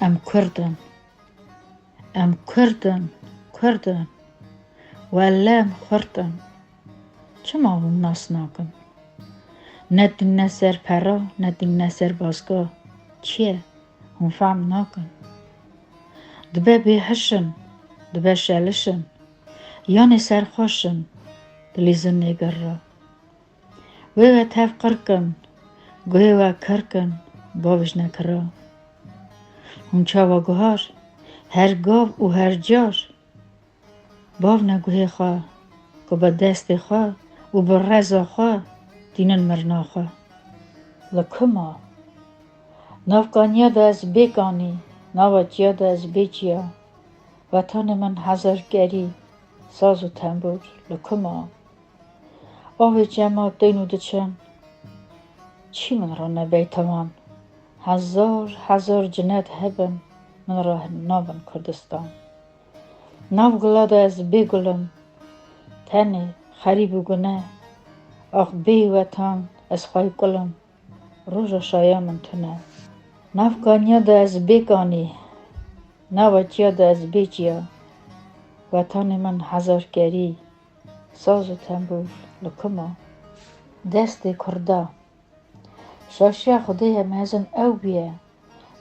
Em kurd in. Em kurd in, kurd in. Welle em xurt in. Çima hûn nas nakin? Ne dîne ser pera, ne dîne ser bazga. Çiye? Hûn fehm nakin. Dibe bêhiş in, dibe şeliş in. Yanê serxweş in, dilîzin nêgirra. Wê we tev qirk in, guhê we kirk in, bawiş nekira. Hûn çawa guhar, her gav û her car, bav ne guhê xwe, ku bi destê xwe û bi reza xwe tînin mirina xwe. Li ku ma? Nav kaniya de ez bê kanî, nava çiya de ez bê çiya, wetanê min hezar kerî, saz û tembûr, li ku ma? Avê cema tên û diçin. Çî min re nebey tewan. Hezar hezar cinet hebin min re nabin Kurdistan. Nav gula de ez bê gul im. Tenê xerîb û gune. Ax bê wetan ez xwey kul im. Roja şaya min tune. Nav kaniya de ez bê kanî. Nava çiya de ez bê çiya. Wetanê min hezarkerî. Saz û tembûr li ku ma? Destê kurda. Şaşiya xwedê ye mezin ew bûye,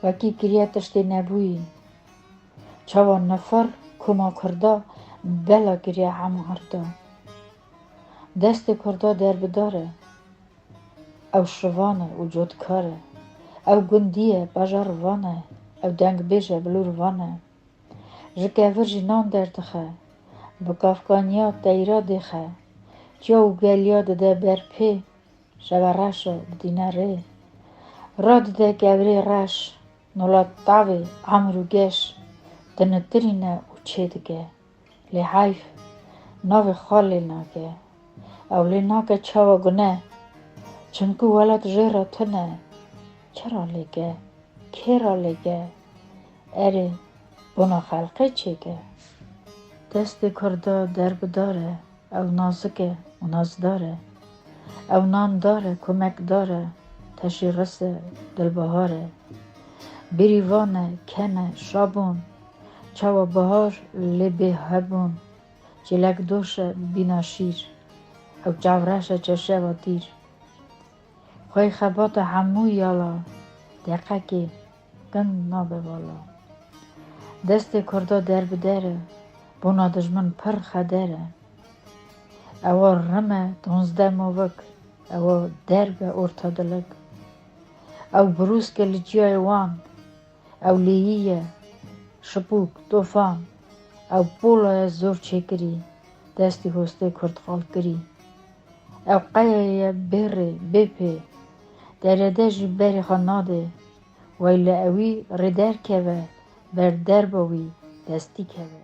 wekî kiriye tiştê nebûyî. Çawa nifir ku ma kurda bela kiriye hemû hirda. Destê kurda derbidar e. Ew şivan e û cotkar e. Ew gundî ye, bajar van e. Ew dengbêj e, bilûrvan e. Ji kevir jî nan derdixe. Bi kafkaniya teyra dêxe. Çiya û geliya dide ber pê. Şeva reş o, bidîne rê. Ra dide kevirê reş. Nola tavê, amir û geş. Dinitirîne û çêdike. Lê heyf navê xwe lê nake. Ew lê nake çawa gune. Çimku welat jê re tune. Çira lê ke? Kê ra lê ke? Erê bona xelqê çêke. Destê kurda derbidar e. Ew nazik e û nazdar e. Ew nandar e, komekdar e, teşîres e, dilbihar e. Bêrîvan e, kem e, şabûn, çawa bihar lê bê hebûn, çêlekdoş e, bîna şîr. Ew çavreş e, çeşeva tîr. Xwey xebata hemû yala, deqekê. Dem nabe vala. Destê kurda derbider e, bona dijmin pir xeder e. Ewa rim e donzdeh movik, ewa derg e orta dilik. Ew brûsk e li ciyayê wan, ew lêyî ye, şipûk, tofan. Ew pola ye zor çêkirî, destê hostê kurd xalkirî. Ew qeyayê ye bê rê, bê pê. Derede ji berê xwe nade, wey li ewî rê derkeve ber derba wî destî keve.